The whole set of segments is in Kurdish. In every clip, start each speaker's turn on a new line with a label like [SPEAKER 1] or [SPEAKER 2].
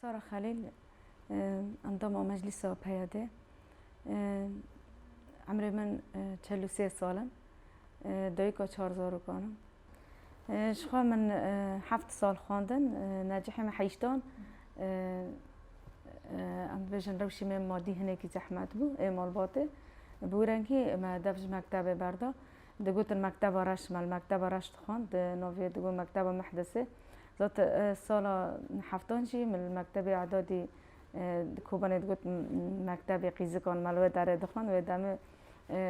[SPEAKER 1] Sara Xelîl, endama Meclîsa PYD'ê, Emrê min çel û sê sal in. Dayika çar zarokan im. Jixwe min heft sal xwendin. Necihê min heyştan. Em dibêjin rewşê me madî hinekî zehmet bû ê malbatê. Bi wrengî me dev ji mektebê berda. digotin Mekteba Reş me li Mekteba Reş dixwend di navê digot Mekteba Mehdesê zat sala heftan jî min li Mektebê Edadî di Kobanê digot Mektebê Qîzikan me li wê derê dixwend wê demê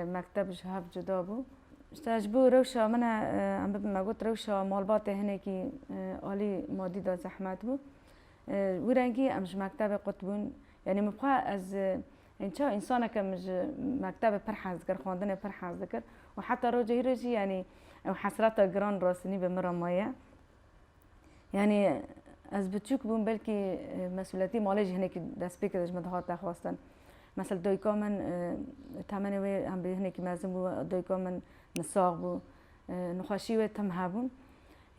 [SPEAKER 1] mekteb ji hev cuda bû. Îşte ji bo rewşa min e em bibin me got rewşa malbatê hinekî alî madî de zehmet bû wî rengî em ji mektebê qut bûn yanî min xwe ez Hîn çawa însaneke min ji mektebê pir hez dikir, xwendinê pir hez dikir û heta roja hîrê jî yanî ew hesreta giran rastinî bi min re maye. Yanî ez biçûk bûm belkî mesûliyetî malê jî hinekî destpê kir ji min dihate xwestin. Mesela dayika min temenê wê em bi hinekî mezin bû, dayika min nisax bû, nixweşî wê tim hebûn.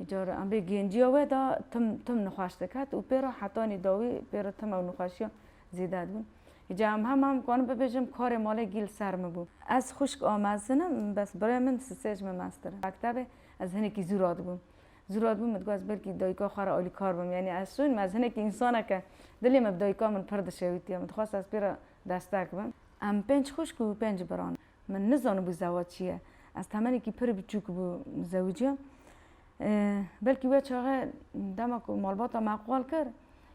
[SPEAKER 1] Cara em rê genciya we da tim tim nixweş diket û pê re hetanî dawî pê re tim ew nixweşiya zêde dibûn. Îcar em hema em karin bibêjim karê malê gî li ser min bû. Ez xwişk a mezin im, bes birayê min sisê ji min meztir in. Mektebê ez hinekî zû radibûm. Zû radibûm min digot ez belkî dayika xwe re alîkar bim. Yanî ez şûn me ez hinekî însanek e. Dilê min bi dayika min pir dişewitiye. Min dixwest ez pê re destek bim. Em pênc xwişk û pênc bira ne. Min nizanibû zewac çi ye. Ez temenekî pir biçûk bû zewiciya. Belkî wê çaxê dema ku malbata me qal kir,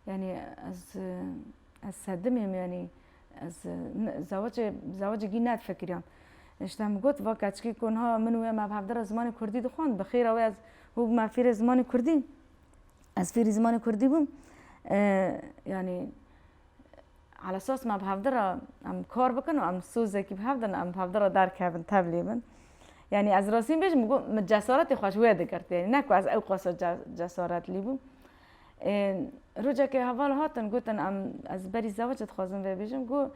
[SPEAKER 1] yanî ez ez sedimê me yanî ez zewacê zewacê gî nedifikiriya. Îşte min got va keçikê ku niha min û wê me bi hevdira zimanê kurdî dixwend, bi xêra wê ez hû bûme fêrê zimanê kurdî. Ez fêrî zimanê kurdî bûm. Yanî Ala esas me bi hevde re em kar bikin û em sozekî bi hev din em bi hevde re derkevin tevlî bin. Yanî ez rastî bêjim min got min cesaretê xwe ji wê digirt yanî ne ku ez ew qasa cesaretlî bûm. Rojekê heval hatin gotin em ez berî zewicê dixwazim vê bêjim got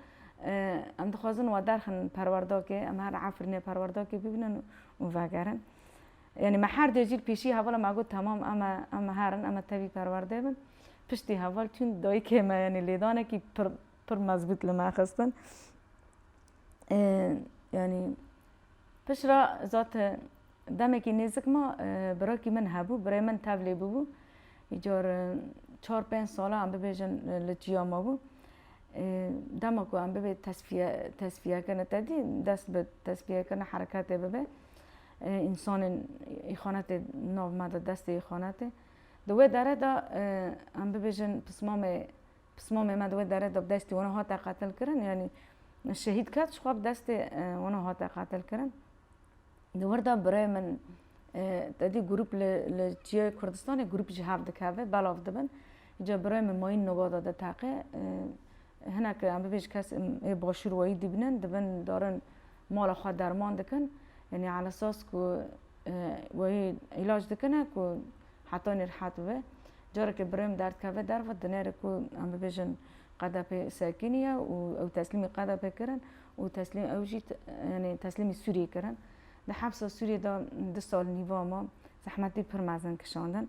[SPEAKER 1] em dixwazin we derxin perwerdakê em her Efrînê perwerdakê bibînin û vegerin. Yanî me her dê jî li pêşî hevala me got temam em e em e herin em e tevî perwerdê bin. Piştî heval çûn dayikê me yanî lêdanekî pir pir mezbût li me xistin. Yanî pişra zat demekî nêzik ma birakî min hebû, birê min tevlê bûbû. Îcar çar pênc sala em bibêjin li çiya ma bû. Dema ku em bibê tesfiye tesfiyekirine tedî dest bi tesfiyekirine hereketê bibe. Însanên îxanetê nav me de destê îxanetê. Di wê dere de em bibêjin pismamê pismamê me di wê dere de bi destê wan hate qetilkirin yanî şehîd ket ji xwe bi destê wan hate qetilkirin. Di wir de birê min tedî grûp li li Çiyayê Kurdistanê grûp ji hev dikeve belav dibin. Îca birê min mayîn nobada de teqe hinek em bibêjin kes ê başûr wayî dîbinin dibin darin mala xwe derman dikin yanî ala sas ku wê îlac dikine ku heta nê rihet bibe. Carekê birêm derdkeve derve di nêrê ku em bibêjin qedepê sekînî ye û ew teslîmî qedepê kirin û teslîm ew jî yanî teslîmî Sûriyê kirin. Di hepsa Sûriyê de du sal nîva ma zehmetî pir mezin kişandin.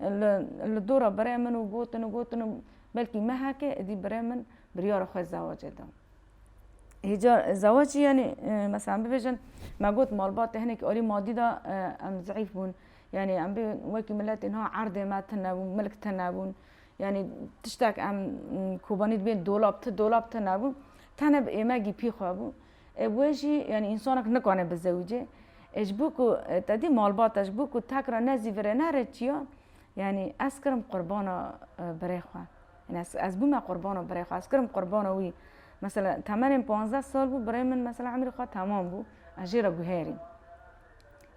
[SPEAKER 1] Li li dora birê min û gotin û gotin û belkî mehekê êdî birê min biryara xwe zewacê da. Hêja zewacî yanî meselan bibêjin me got malbatê hinekî alî madî da em zeîf bûn. Yanî em bê wekî miletê niha erdê me tune bû, milk tune bûn. Yanî tiştek em kobanî dibên dolab, ti dolab tune bû. Tenê bi êmegî pî xwe bû. Ê wê jî yanî însanek nikane bizewicê. Ê ji bo ku te dî malbata ji bo ku tek re ne zî virê ne rê çiya yanî ez kirim qurbana birê xwe. Yanî ez ez bûme qurbana birê xwe ez kirim qurbana wî. Mesela temenên panzdeh sal bû birê min mesela emrî xwe temam bû ez jê re guherîm.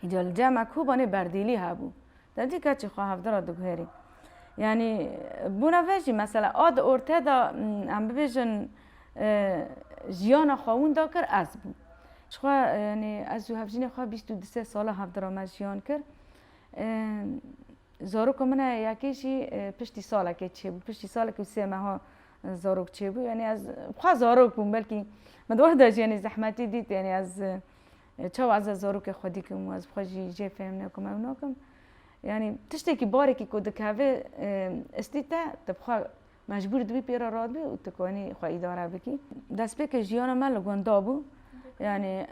[SPEAKER 1] Îca li cem e kobanê berdêlî hebû. Te cî keçî xwe hevdî re diguherî. Yanî bona ve jî mesela a di ortaya de em bibêjin jiyana xwe winda kir ez bûm. Jixwe yanî ez û hevjînê xwe bîst û du sê sala hevdî re me jiyan kir. Zaroka min heye yekê jî piştî salekê çêbû. Piştî salekê û sê meha zarok çêbû. Yanî ez xwe zarok bûm belkî min di wexta jî yanî zehmetî dît yanî ez Çawa ez a zarokê xwe dîkim û ez bi xwe jî jê fêm nekim ew nakim. Yanî tiştekî barekî ku dikeve istî te, tu bi xwe mecbûr dibî pê re radibî û tu konî xwe îdare bikî. Destpêkê jiyana me li gunda bû. Yanî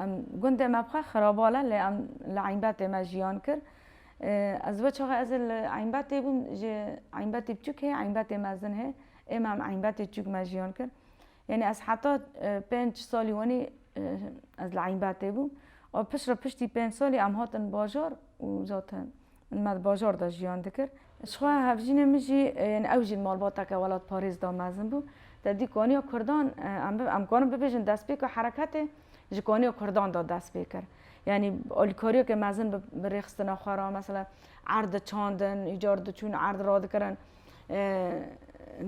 [SPEAKER 1] em gundê me bi xwe xirabal e lê em li Eynbetê me jiyan kir. Ez we çaxê ez ê li Eynbetê bûm ji Eynbetê biçûk hê Eynbetê mezin hê. Ême em Eynbetê çûk me jiyan kir. Yanî ez heta pênc salî wenî ez li Eynbetê bûm û pişt re piştî pênc salî em hatin bajar û zaten me di bajar de jiyan dikir. Jixwe hevjînê min jî yanî ew jî malbateke welatparêz da mezin bû. Te dît ku aniya kurdan em dikarin bibêjin destpêka hereketê ji ku aniya kurdan de dest pê kir. Yanî alîkariyeke mezin bi rêxistina xwe re mesela erd diçandin, îcar diçûn erd radikirin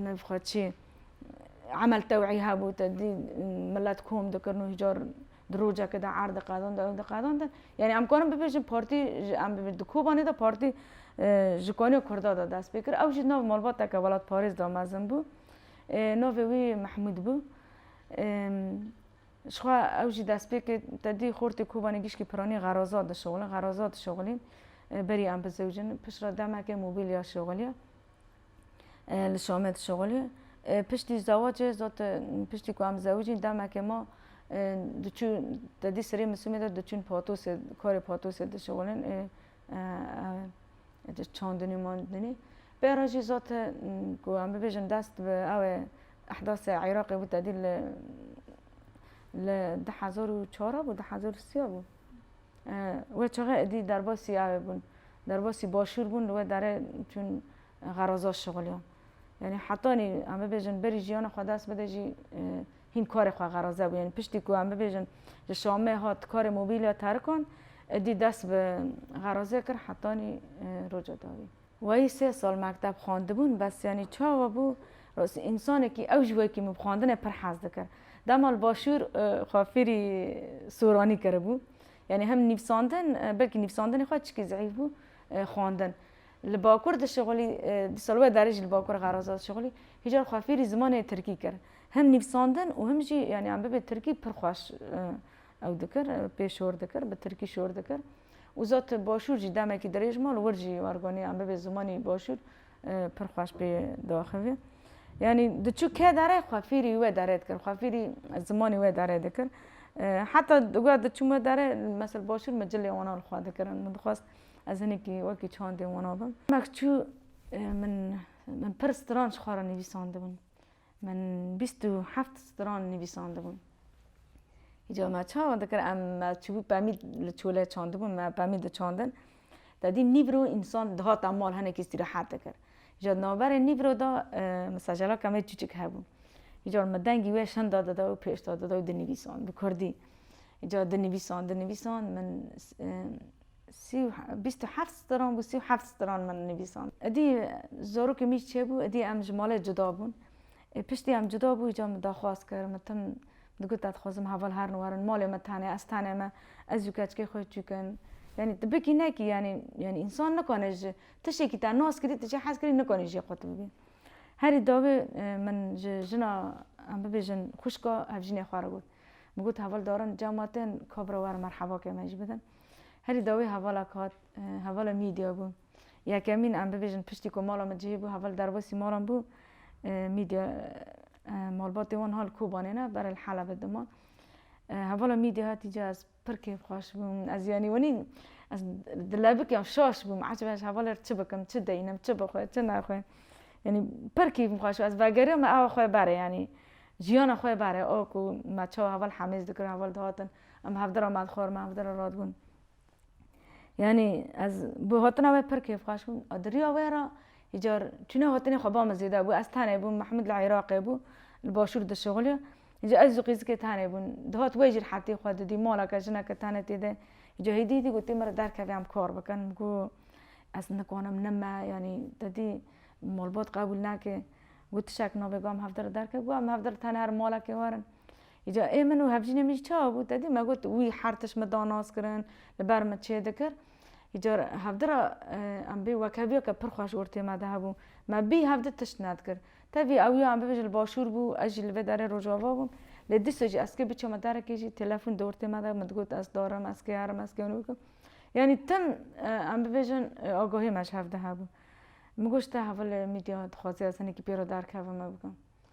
[SPEAKER 1] navê xwe çi ye. emel tewî hebû te dî milet kom dikirin û hîcar di rojekê de erd diqedand ew diqedand yanî em karin bibêjin partî em bibêjin di kobanê de partî ji kanîya kurda de dest pê kir ew jî nav malbateke welatparêz de mezin bû navê wî mehmûd bû jixwe ew jî dest pê kir te dî xortê kobanê gişkî piranî xeraza dişixulin xeraza dişixulîn berî em bizewicin piştre demekê mobîlya şixulî Li Şamê dişuxulî. Piştî zawacê zot piştî ku em zewicîn demekê ma diçû tedî sirê misûmê de diçûn patosê karê patosê dişuxulin ê çandinî mandinî. Pê re jî zot ku em bibêjin dest bi ew ê ehdasê Iraqê bû tedî li li di hezar û çar a bû di hezar û sî a bû. We çaxê êdî derbasî yavê bûn, derbasî başûr bûn li we derê çûn xeraza şixuliyan. Yanî hetanî em bibêjin berî jiyana xwe dest bide jî hîn karê xwe xeraze bû. Yanî piştî ku em bibêjin ji Şamê hat karê mobîlya terikan êdî dest bi xerazê kir hetanî roja dawî. Wayî sê sal mekteb xwendibûn bes yanî çawa bû însanekî ew ji wekî min bi xwendinê pir hez dikir. Dema li başûr xwe fêrî soranî kiribû. Yanî hem nivîsandin belkî nivîsandinê xwe çikî zehîf bû xwendin. Li bakur dişixulî dîsal wê derê jî li bakur xeraza dişixulî. Hîcar xwe fêrî zimanê tirkî kir. Hem nivîsandin û hem jî yanî em bibê tirkî pir xweş Ew dikir, pê şor dikir, bi tirkî şor dikir û zot başûr jî demekî dirêj mal wir jî warganî an bibê zimanî başûr pir xweş pê diaxivî. Yanî diçû ke dere xwe fêrî wê dere dikir, xwe fêrî zimanî wê dere dikir. Heta digoya diçûm wê dere mesela başûr min cilê wana li xwe dikirin. Min dixwest ez hinekî wekî çandê wana bim. Demek çû min pir stran ji xwe re nivîsandibin. Min bîst û heft stran nivîsandibûn. Îcar me çawa dikir em me çûbû pemî li çolê çandibûn me pemî diçandin. De dî nîvro însan dihata mal hinekî îstîrehat dikir. Îcar di navberê nîvro de mesajala kemê çûçik hebû. Îcar me dengî wê şinda dida û pêşda dida û dinivîsand bi kurdî. Îcar dinivîsand dinivîsand min Sî û bîst û heft stran bû, sî û heft stran min nivîsand. Îdî zarokê min jî çêbû, îdî em ji malê cuda bûn. Ê piştî em cuda bû îcar min daxwaz kir, min tim digot ez dixwazim heval herin werin malê min tenê, ez tenê me, ez û keçikê xwe çûkin. Yanî tu bikî nekî yanî yanî însan nikane ji tiştekî te nas kirî tu jê hez kirî nikanî jê xwe tu bibî. Herî dawî min ji jina em bibêjin xwişka hevjînê xwe re got. Min got heval darin cama tên kabira werin merhebakê me jî bidin. Herî dawî hevala ku hat hevala mîdya bû. Yekemîn em bibêjin piştî ku mala min cihê bû heval derbasî malan bû mîdya malbatê wan ha li Kobanê ne berê li Helebê dima. Hevala mîdya hatî cih ez pir kêfxweş bûm. Ez yanî wenî ez dilebik ya şaş bûm ecbe ji hevalê re çi bikim, çi deynim, çi bixwe, çi nexwe. Yanî pir kêfim xweş bû. Ez vegeriya me awa xwe berê yanî jiyana xwe berê. O ku me çawa heval hemêz dikirin heval dihatin. Em hevdira me dixwar, me hevdira radibûn. Yanî ez bi hatina wê pir kêfxweş bûm. A di riya wê re yê car çûna hatinê xwe ba min zêde bû. Ez tenê bûm, Mehmûd li Îraqê bû, li başûr dişixuliya. Îcar ez û qîzikê tenê bûn. Dihat wê jî rehetî xwe didî, maleke, jineke tenê tê de. Îcar hêdî hêdî gotî min re derkevê em kar bikin. Min got ez nikanim nime, yanî te dî malbat qebûl nake. Got tişek nabe, got em hevdira derkevin. Got em hevdira tenê herim malekê werin. Îcar ê min û hevjînê min jî çawa bû? Te dî me got wî her tişt min da nas kirin, li ber min çê dikir. Îcar hevdi ra em bê wekhevîya ke pir xweş ortê me de hebû. Me bî hevdi tişt nedikir. Tevî ew ya em bibêjin li başûr bû, ez jî li vê derê rojava bûm. Lê dîsa jî ez kê biçama derekê jî telefon di ortê me de min digot ez darim, ez kê herim, ez kê wino bikim. Yanî tim em bibêjin agahiyê me ji hev de hebû. Min got ji te hevalê mîdya dixwazê ez hinekî pê re derkevim me bikim.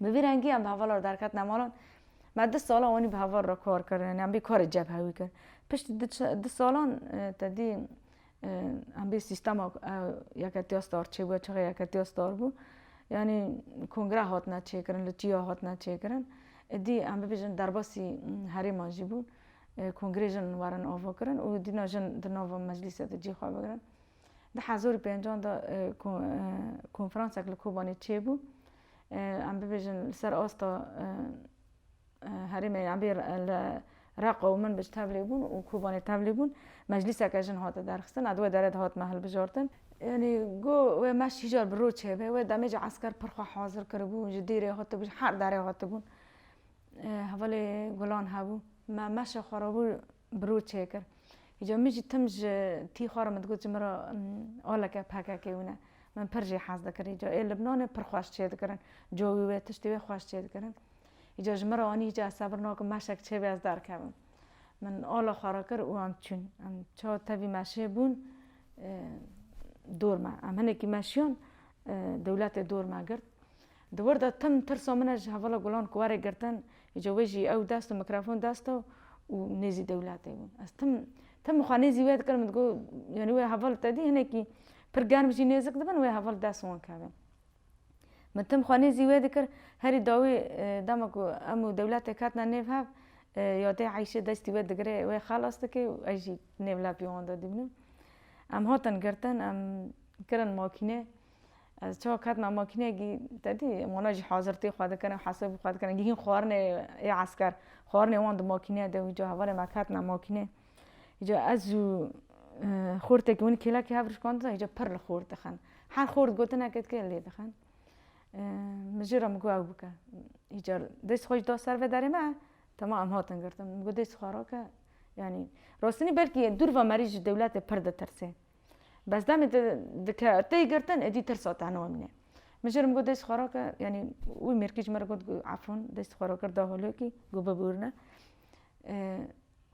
[SPEAKER 1] Bi vî rengî em bi hevala re derketina malan. Me du salan wanî bi heval re kar kir yanî em bî karê cebhe wî kir. Piştî du salan tedî em bî sîstema yeketiya star çêbûye çaxê yeketiya star bû. Yanî kongre hatine çêkirin li çiya hatine çêkirin. Êdî em bibêjin derbasî herêman jî bûn. Kongrê jin werin avakirin û dîna jin di nava meclîsê de cî xwe bigirin. Di hezar û pêncan de ku konferansek li Kobanê çêbû em bibêjin li ser asta herêmê em bê li Reqa û Minbij tevlî bûn û Kobanê tevlî bûn. Meclîseke jin hate derxistin û di wê derê de hatime hilbijartin. Yanî go wê meşt hî car bi roj çêbe. Wê demê jî esker pir xwe hazir kiribû. Ji dîrê hatibû, ji her derê hatibûn. Hevalê gulan hebû. Me meşê xwe re bû bi rû çêkir. Îcar min jî tim ji tî xwe re min digot ji min re oleke pkk hûn e. Min pir jî hez dikir. Îcar ê Libnanê pir xweş çêdikirin. Cowî wê, tiştê wê xweş çêdikirin. Îcar ji min re anî îcar ez sebir nakim meşek çêbê ez derkevim. Min ola xwe re kir û em çûn. Em çawa tevî meşê bûn dor me. Em hinekî meşiyan dewletê dor me girt. Di wir de tim tirsa min e ji hevala Gulan ku warê girtin, îca wê jî ew dest û mikrofon dest e û nêzî dewletê bûn. Ez tim tim xwe nêzî wê dikirim, digot yanî wê heval te dî hinekî pir germ jî nêzik dibin wê heval dest wan keve. Min tim xwe nêzî wê dikir, herî dawî dema ku em û dewletê ketine nêv hev ya dê Eyşê destî wê digire wê xelas dike û ez jî nêv lepî wan de dîbinim. Em hatin girtin, em kirin makîne. Ez çawa ketina makîneyekî te dî wana jî hazirtî xwe dikirine hesabî xwe dikirine gihîn xwarinê ê esker xwarinê wan di makîneya de wî ca hevalên me ketina makînê îca ez û xortekî winî kêlekî hev rişkandina îca pir li xort dixin her xort gotinekê dike lê dixin min jê re min got ew bike îcar dest xwe jî da ser vê derê me tema em hatin girtin min got dest xwe rake yanî rostinî belkî dûr ve merî ji dewletê pir ditirsê Bes demê te dike tey girtin êdî tirsa te niwe min e. Min jê re min got dest xwe rake yanî wî mêrkî ji min re got efûn dest xwe rakir da holokî got bibûrne.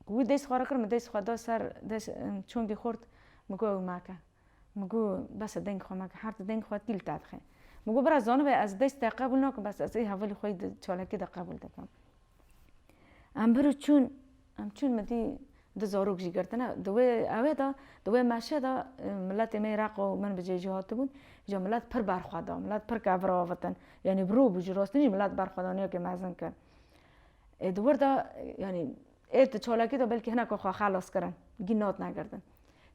[SPEAKER 1] Wî dest xwe rakir min dest xwe da ser çongê xort min got ew make. Min got bes e deng xwe meke her ti deng xwe tîl te dixe. Min got bira zanibê ez dest te qebûl nakim bes ez ê hevalê xwe yê çalakî de qebûl dikim. Em bir û çûn, em çûn min dî du zarok jî girtine. Di wê ewê de, di wê meşê de miletê me yê Req û min bi cê jî hatibûn. Îja milet pir berxwe da, milet pir ket vir avêtin. Yanî bi rû bû, ji rastî jî milet berxwedaniyekê mezin kir. Ê di wir de, yanî ê di çalakî de belkî hineka xwe xelas kirin, gîn natina girtin.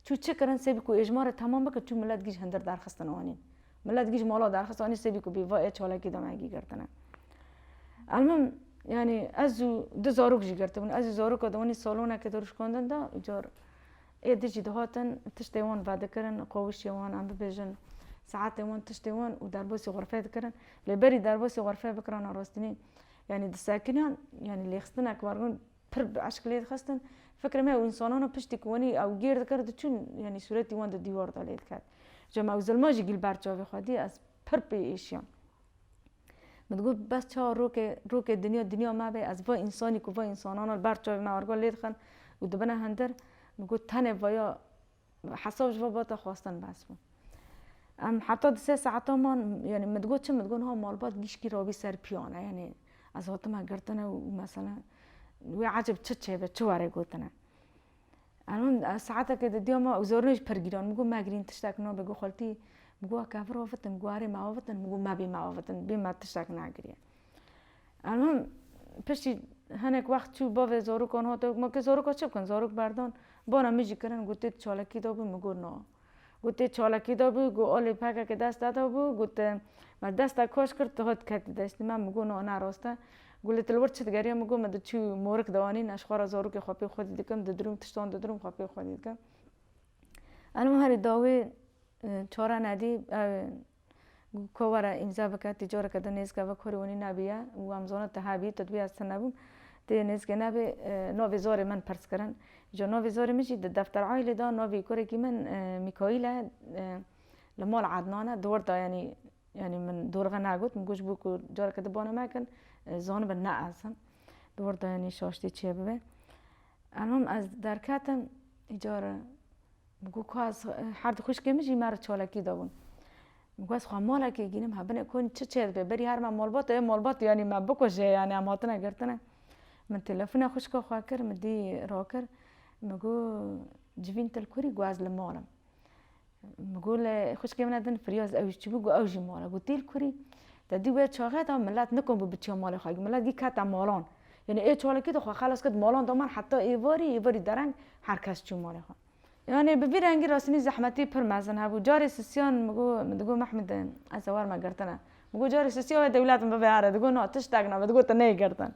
[SPEAKER 1] Çû çi kirin sê bî ku ê ji ma re temam bikin çû milet gîj hindir derxistin anî. Milet gîj mala derxist anî sê bî ku bî va ê çalakî de me gîgirtine. Elmim yanî ez û du zarok jî girtibûn. Ez û zaroka di wanî salonekê de rûşkandin de û car ê di jî dihatin tiştê wan vedikirin, qawişê wan em bibêjin saetê wan tiştê wan û derbasî xurfeyê dikirin. Lê berî derbasî xurfeyê bikirana rastînî yanî disekiniyan yanî lêxistineke wergirin Pir bi eşq lê dixistin. Fikirê me ew însanan e piştî ku wenî ew gêr dikir diçûn yanî sûretî wan di dîwar de lê diket. Ca me ew zilma jî gîlber çavê xwe dî ez pir pê êşiyam. Min digot bes çawa rokê rokê dinya dinya me bê ez va însanî ku va însanan e li ber çavê me argal lê dixin û dibine hindir min got tenê vaya Hesab ji babata xwestin behs bû. Em heta du sê saetan man yanî min digot çi min digot niha malbat gîşkî rabî ser piyane yanî ez hatime girtine û mesela wê ecêb çi çêbe çi were gotine. Em hûn saetekê di diya me û zorînê jî pir gîran min got megirîn tiştek nabe got xeltî min got kevir avitin min got erê me avitin min got mebî me avitin bî me tiştek negiriye. Em him piştî hinek wext çû bavê zarokan hate got ma kê zaroka çi bikin zarok berdan bana min jî kirin got tê di çalakî de bû min got na got tê çalakî de bû got alê pekeke deste de bû got te me deste kaş kir tu hat ketî deştê me min got na ne rast e got lê tu li wir çi digeriya min got min di çû morik de anîn ez ji xwe re zarokê xwe pê xwedî dikim didirim tiştan didirim xwe pê xwedî dikim em him herî dawî çare nedî Kovara îmza bike tê coreke di nêzika vek hûrê winî nabî ya û wan bizana ti habî tu dibî ez ti nebûm ti nêzikê nabî navê zorê min pirs kirin îja navê zorê min jî di defter aîlê de navê kurekî min mîkaîl e li mal ednan e di wir de yanî yanî min dorxe negot min got ji bo ku careke di bana me kin zanibin ne ez im di wir de yanî şaştî çêbibe elmim ez derketim îcar Bû ku ez her du xwîşkên min jî me re çalakî dabûn. Bû ez xwe malekê gînim hebin e konî çi çê dibe berî her me malbat ê malbat yanî me bikuje yanî em hatine girtine. Min telefona xwişka xwe kir min dî rakir min got civîn til kurî got ez li mal im. Min got lê xwişkê min e din firyaz ew jî çibû got ew jî mal e. Got tîl kurî te dî wê çaxê de milet nikom bû biçiya malê xwe milet dî kete malan. Yanî ê çalakî de xwe xelas kir di malan de man heta êvarî êvarî dereng Her kes çû malê xwe. Yanî bi vî rengî rastînî zehmetî pir mezin hebû. Carê sisiyan min got, min digot Mehmûd e, ez ê war me girtine. Min got carê sisiya wê dewlet min bibe here. Digot na, tiştek nabe. Digot te neyê girtin.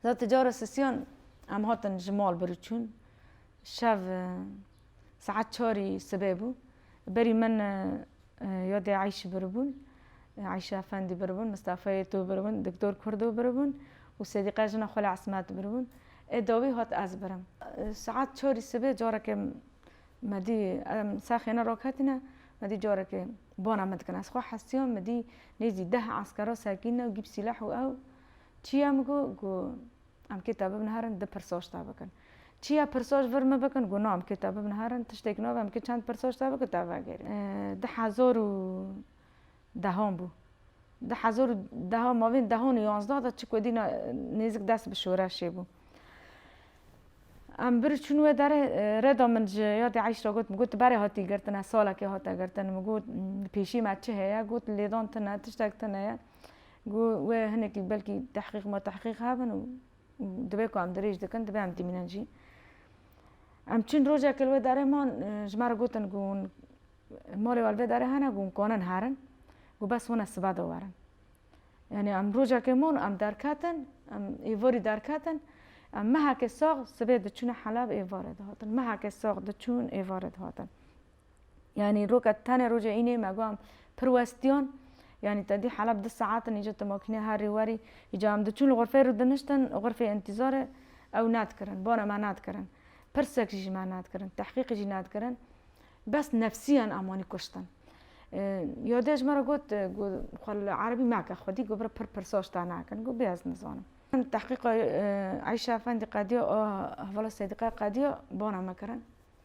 [SPEAKER 1] Za ti cara sisiyan em hatin ji mal bir û çûn. Şev saet çarî sibê bû. Berî min Ya dê Eyşî biribûn, Eyşî Efendî biribûn, Mistefa Yetû biribûn, Diktor Kurdo biribûn û Sedîqe jina xwe li Esmet biribûn. Ê dawî hat ez birim. Saet çarî sibê careke me dî em sexêne raketîne, me dî careke bana min dikine. Ez xwe hestiyam me dî nêzî deh eskera sekîne û gîp sîleh û ew çi ye min got, got. Em kê te bibin herin di pirsoç te bikin. Çiya pirsoç vir min bikin got no em kê te bibin herin tiştêk nave em kê çend pirsoç te bikin te vegerîn. Di hezar û dehan bû. Di hezar û dehan mavên dehan û yanzda de çik wêdî nêzik dest bi şoreşê bû. Em bir çûn wê derê rêda min ji yadê Eyşra got min got tu berê hatî girtin ez salekê hate girtin min got pêşî me çi heye got lêdan tune tiştek tune ye. Got, wê hinekî belkî tehqîq ma tehqîq hebin û divê ku em dirêj dikin divê em tîmînin jî. Em çûn rojekê li wê darê man ji me re gotin ku hûn malê we li vê darê hene ku hûn kanin herin ku bes hûn ez sibe de werin. Yanî em rojekê man em derketin em êvarî derketin em mehekê sax sibê diçûne helab êvarê dihatin mehekê sax diçûn êvarê dihatin. Yanî roka tenê roja înê me got pir westiyan. Yanî te dî Heleb du saet in îca tu makîne herî werî. Îca em diçûn li xurfeyê rû diniştin xurfê întîzarê ew nedikirin. Bana me nedikirin. Pirsek jî ji me nedikirin. Tehqîqî jî nedikirin. Bes nefsîyan em wanî kuştin. Yadê ji me re got ku xwe li erebî meke xwedî ku bira pir pirsa ji te nakin. Got bê ez nizanim. Tehqîqa Eyşa Efendî qediya a hevala Sêdîqaya qediya bana me kirin.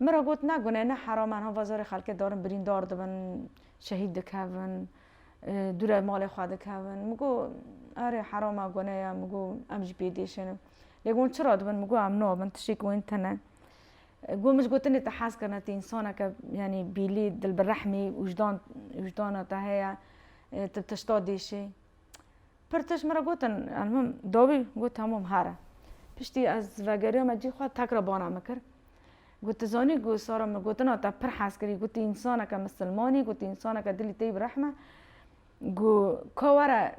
[SPEAKER 1] Min re got ne gune ne heram an hova zorê xelkê darin birîndar dibin şehîd dikevin dû re malê xwe dikevin min got erê heram a gune ya min got em jî pê dêşenin lê got çira dibin min got em nabin tiştê ku wên tune got min ji gotinê te hez kirine tu însaneke yanî bîlî dilbirehmî wijdan wijdana te heye tu tişta dêşî Pir tişt min re gotin Elmim dawî? Got hemûm here. Piştî ez vegeriya me cî xwe tekra bana min kir. Got tu zanî ku Sara min gotina te pir hez kirî gotî însaneke misilmanî gotî însaneke dilî teyî bi rehm e ku ka were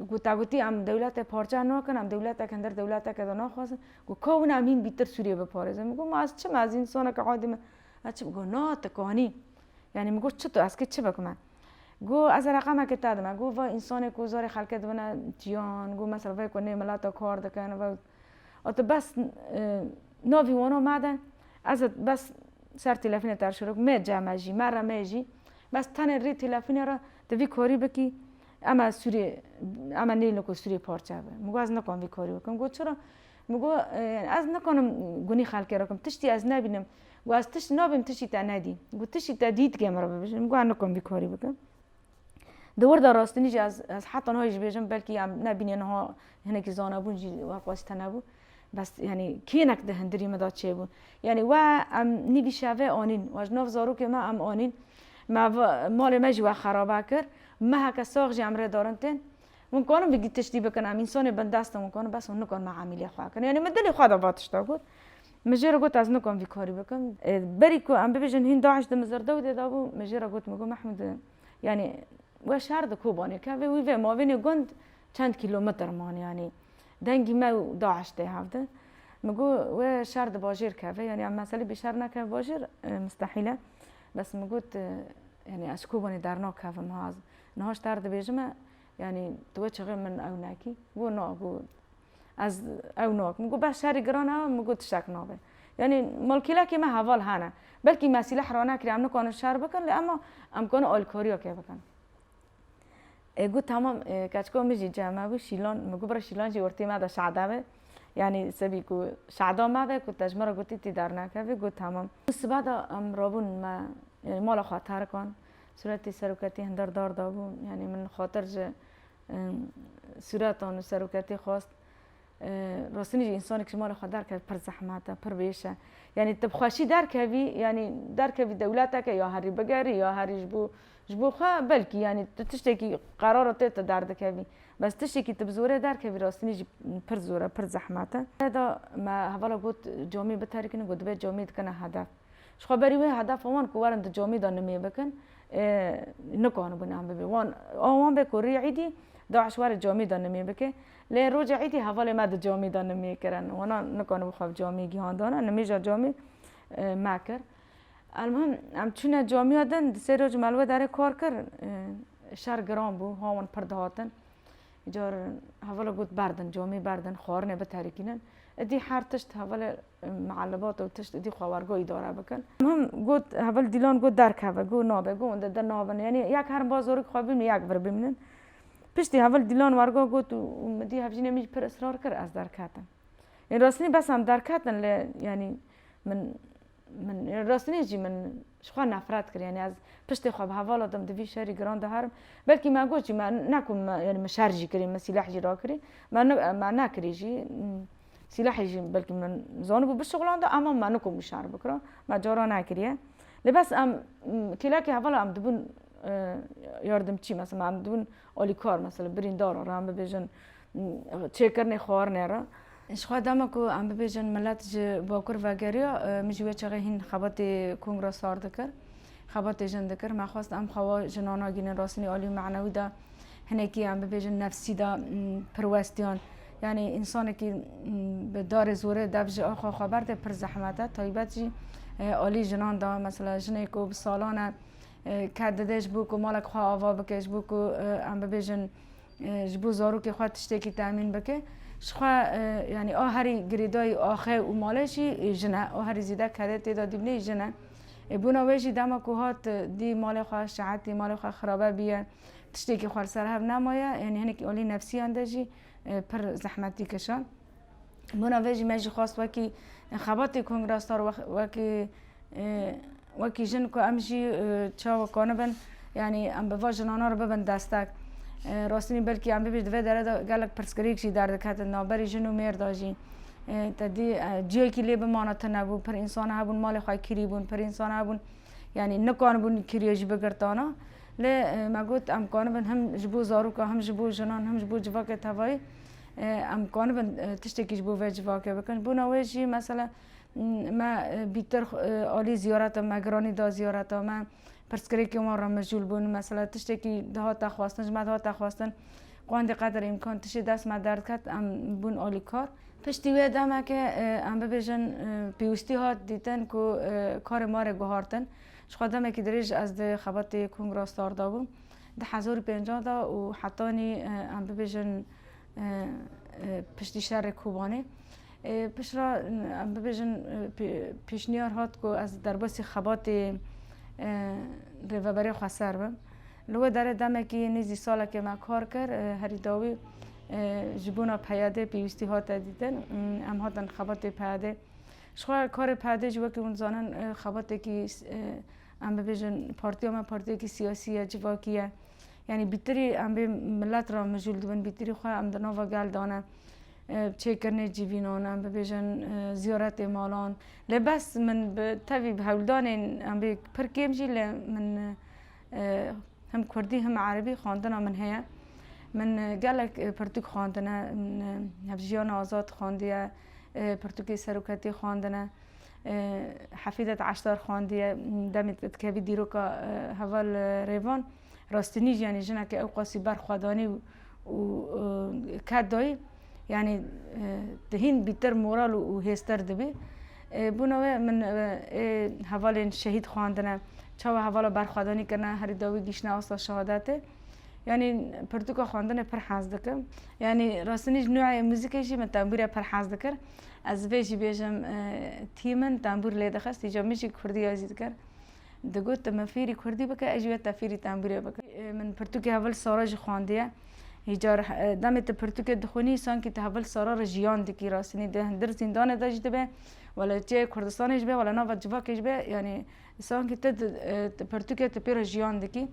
[SPEAKER 1] ku te gotî em dewletê parçe nakin em dewletek hindir dewleteke de naxwazin ku ka wina em hîn bîtir Sûriyeyê biparêzin. Min got ma ez çi me ez însaneke adî me ez çi bikim? Got na tu kanî. Yanî min got çitu ez kê çi bikim e? Got, Ez e reqamekê te dime. Got, Vay însanê ku zarê xelkê dibine tiyan, got mesela vê ku nê milata kar dikin, vay a tu bes navî wana me de, ez ê bes ser tîlefînê te re şiro bikim, mê cem e jî, me re mê jî, bes tenê rê tîlefînê re tu vî karî bikî, em e sûrê, em e nêlin ku sûrê parçe be. Min got, Ez nikarim vî karî bikim. Got, Çira? Min got, Ez nikarim gunî xelkê re bikim, tiştî ez nebînim, Got ez tişt nabim tiştî te nedî. Got tiştî te dî dike min re bibêje. Min got ez nikom vî karî bikim. Di wirda rastinî jî ez ez heta niha jî bêjim belkî em nebînê niha hinekî zanebûn jî we qas tune bû. Bes yanî kênek di hindirî min de çêbû. Yanî we em nîvî şevê anîn. We ji nav zarokê me em anîn. Me malê me jî we xerabe kir. Meheke sax jî em rê darin tên. Hûn karin vî tiştî bikin em însanê bindest in hûn karin bes hûn nikarin me emîlê xwe kirin. Yanî min dilê xwe de va tişta got. Min jê re got ez nikom vî karî bikim. Berî ku em bibêjin hîn DAIŞ di Mizirdewdê de bû, min jê re got min got Mehmûd yanî we şer di Kobanê kevê wî vê mavênê gund çend kîlometr man yanî dengî me û DAIŞ tê hev de. Min got we şer di bajêr keve yanî em meselê bî şer nekeve bajêr mistehîl e. Bes min got yanî ez ji Kobanê dernakevim ha ez niha ji te re dibêjime yanî tu we çixê min ew nekî. Got na got Ez ew nakim. Min got bes şerî giran e, min got tiştek nabe. Yanî malkîlekê me heval hene. Belkî me sîleh rane kiriye, em nikarin şer bikin lê ema em karin alîkariya kê bikin. E got tamam e, keçika min jî cem hebû şîlan, min got bira şîlan jî ortê me de şada be. Yanî sebî ku şada me be ku te ji me re gotî tî dernakevî got tamam. Sibe de em rabûn me mala xwe terkan. Sûretê seroketî hindar dar dabû. Yanî min xatir ji Sûretan û seroketê xwest rastînî jî însanê kişî mala xwe derkeve pir zehmet e, pir wêş e. Yanî tu bi xweşî derkevî, yanî derkevî dewleteke ya herî bigerî ya herî ji bo ji bo xwe belkî yanî tu tiştekî qerara te tu derdikevî. Bes tiştekî tu bi zorê derkevî rastînî jî pir zor e, pir zehmet e. Rêda me hevala got camê biterikînin got divê camê dikena hedef. Ji xwe berî wê hedefa wan ku werin di camî de nimê bikin nikanibû nem bibê. Wan a wan be ku rê îdî DAIŞ were camî de nimê bike. Lê roja îdî hevalê me di camî de nimê kirin. Wana nikanibû xwe bi camî gihandana. Nimêja camî me kir. Elmuhim em çûne camiya din di sê roj me li wê derê kar kir. Şer giran bû. Hawan pir dihatin. Îcar hevala got berdin camî berdin xwarinê biterikînin. Îdî her tişt hevalê Mialibat û tişt dî xwe wergo îdare bikin. Min got heval dîlan got derkeve got nabe got wende de nabin yanî yek herin ba zorik xwe bimînin yek vir bimînin. Piştî heval dîlan wergo got û min dî hevjînê min jî pir israr kir ez derketim. Yên rastînî bes em derketin lê yanî min min rastînî jî min Ji xwe nefret kir, yanî ez piştê xwe bi hevala dim di vî şerî giran de herim. Belkî me got jî, me ne ku yanî min şer jî kirî, min sîleh jî rakirî, me me nekirî jî. Sîlehê jî belkî min zanibû bişuxilanda ema me nikom wî şer bikira, me cara nekiriye. Lê bes em kêlekê hevala em dibûn yardimçî, mesela em dibûn Alîkar mesela birîndar re em bibêjin çêkirinê xwarinê re. Ji xwe dema ku em bibêjin milet ji bakur vegeriya min ji wê çaxê hîn xebatê kongra sar dikir. Xebatê jin dikir. Me xwest em xewa jinan nagihînin rastînî alî û manewî de hinekî em bibêjin nefsî de pirwestiyan. Yanî însanekî bi darê zorê dev ji axwe xwe berde pir zehmet e. Taybet jî alî jinan de mesela jinê ku bi salan e Ker dide ji bo ku malek xwe ava bike, ji bo ku em bibêjin ji bo zarokê xwe tiştekî temîn bike, ji xwe yanî a herî girêdayî axe û malê jî jin e. A herî zêde kedê tê de dîbinê jin e. Ê bona wê jî dema ku hat dî malê xwe şehetî malê xwe xirabe bîye, tiştekî xwe li ser hev nemaye, yanî hinekî alî nefsîyan de jî pir zehmetî kişand. Bona vê jî me jî xwest wekî xebatê Kongra Star wekî wekî jin ku em jî çawa konibin yanî em bi va jinana re bibin destek. Rastî wî belkî em bibî di vê dere de gelek pirsgirêk jî derdiketin navberî jin û mêr de jî. Tedî ciyekî lê bimana tune bû. Pir însan hebûn malê xwe kirî bûn, pir însan hebûn yanî nikanibûn kiriyê jî bigirtana. Lê me got em konibin him ji bo zarokan, him ji bo jinan, him ji bo civakê tevayî Em konibin tiştekî ji bo vê civakê bikin. Bona wê jî mesela me bîtir alî ziyareta me giranî da ziyareta me pirsgirêkên wan re mijûl bûn mesela tiştekî dihata xwestin ji me dihata xwestin qandî qeder îmkan tiştê dest me derdiket em bûn alîkar. Piştî wê demeke em bibêjin pêwîstî hat dîtin ku karê me re guhartin. Jixwe demekî dirêj ez di xebatê kongra star de bûm. Di hezar û pêncan de û hetanî em bibêjin piştî şerê Kobanê piştre em bibêjin pêşniyar hat ku ez derbasî xebatê Rêveberê Xweser bim. Li wê derê demekî nêzî salekê me kar kir. Herî dawî ji bona PYD pêwîstî hate dîtin. Em hatin xebatê PYD. Jixwe karê PYD jî wekî hûn dizanin xebatekî Em bibêjin partiya me partiyekî siyasî ye, civakî ye. Yanî bîtirî em bê milet re mijûl dibin, bîtirî xwe em di nava gel de ne. Çêkirinê civînan, em bibêjin ziyaretê malan. Lê bes min bi tevî bi hewldanên em bê pir kêm jî lê min him kurdî him erebî xwendina min heye. Min gelek pirtûk xwendine, min Hevjîyana Azad xwendiye, pirtûkê Seroketiyê xwendine. Hefîzet Eşdar xwendiye demê dikevî dîroka heval rêvan rastinî jî yanî jineke ewqasî ber xwe danî û ket dayî yanî tu hîn bîtir moral û hêztir dibî. Bûna we min ê hevalên şehîd xwendine çawa hevala berxwedanî kirine herî dawî gihîştine asta şehadetê. Yanî pirtûka xwendinê pir hez dikim. Yanî rastinî ji noyê muzîkê jî min tembûre pir hez dikir. Ez vê jî bêjim tî min tembûr lê dixist îca min jî kurdîya jî dikir. Digot tu min fêrî kurdî bike ez jî we te fêrî tembûrê bikim. Min pirtûkê hevil sara jî xwendiye. Îca demê tu pirtûkê dixwînî sankî tu hevil sara re jiyan dikî rastînî di hundir zîndanê de jî dibe wele çê Kurdistanê jî be wele nava civakê jî be yanî Sanki te di pertûkê te pê re jiyan dikî.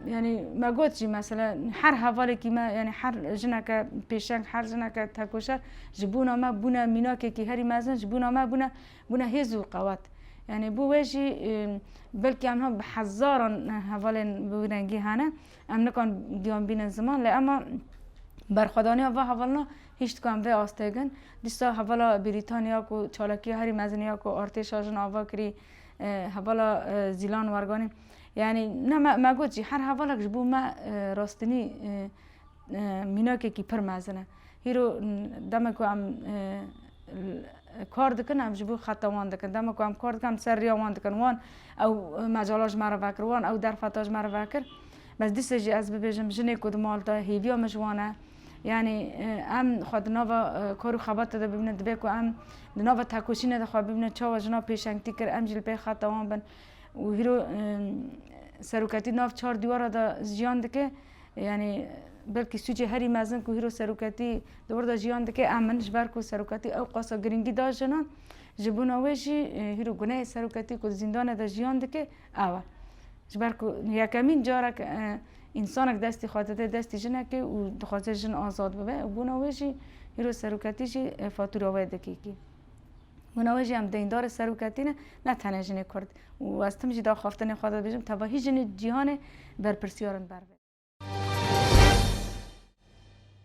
[SPEAKER 1] Yani me got jî mesela her hevalekî me yani her jineke pêşeng her jineke tekoşer ji bona me bûne mînakekî herî mezin ji bona me bûne bûne hêz û qewet. Yani bû wê jî belkî em bi hezaran hevalên bi wî rengî hene em nikan giyan bînin ziman lê ema berxwedaniya va hevalina Hiştkan vê astegin dîsa hevala Brîtanya ku çalakiya herî mezin ya ku artêşa jin ava kirî hevala Zîlan Werganî yanî ne me me got jî her hevalek ji bo me rastinî mînakekî pir mezin e. Hîro demek ku em kar dikin em ji bo xeta wan dikin. Demek ku em kar dikin em li ser riya wan dikin. Wan ew mecala ji me re vekir, wan ew derfeta ji me re vekir. Bes dîsa jî ez bibêjim jinê ku di mal de hêviya min ji wan e. Yanî em xwe di nava kor û xebatê de bibînin dibe ku em di nava tekoşînê de xwe bibînin çawa jinan pêşengtî kir em jî li pey xeta wan bin û hîro seroketî nav çar dîwara de jiyan dike yanî belkî sûcê herî mezin ku hîro seroketî di wir de jiyan dike em in ji ber ku seroketî ewqasa girîngî da jinan ji bona wê jî hîro guneyê seroketî ku di zîndanê de jiyan dike Awe. Ji ber ku yekemîn carek însanek dest dixwaze dê destê jinekê û dixwaze jin azad bibe û bûna wê jî îro seroketî jî fatûra wê dikîkî. Bûna wê jî em deyndarê seroketî ne, ne tenê jinê kurd û ez tim jî di axaftinê xwe de dibêjim tevahî jinê cîhanê berpirsiyar in ber vê.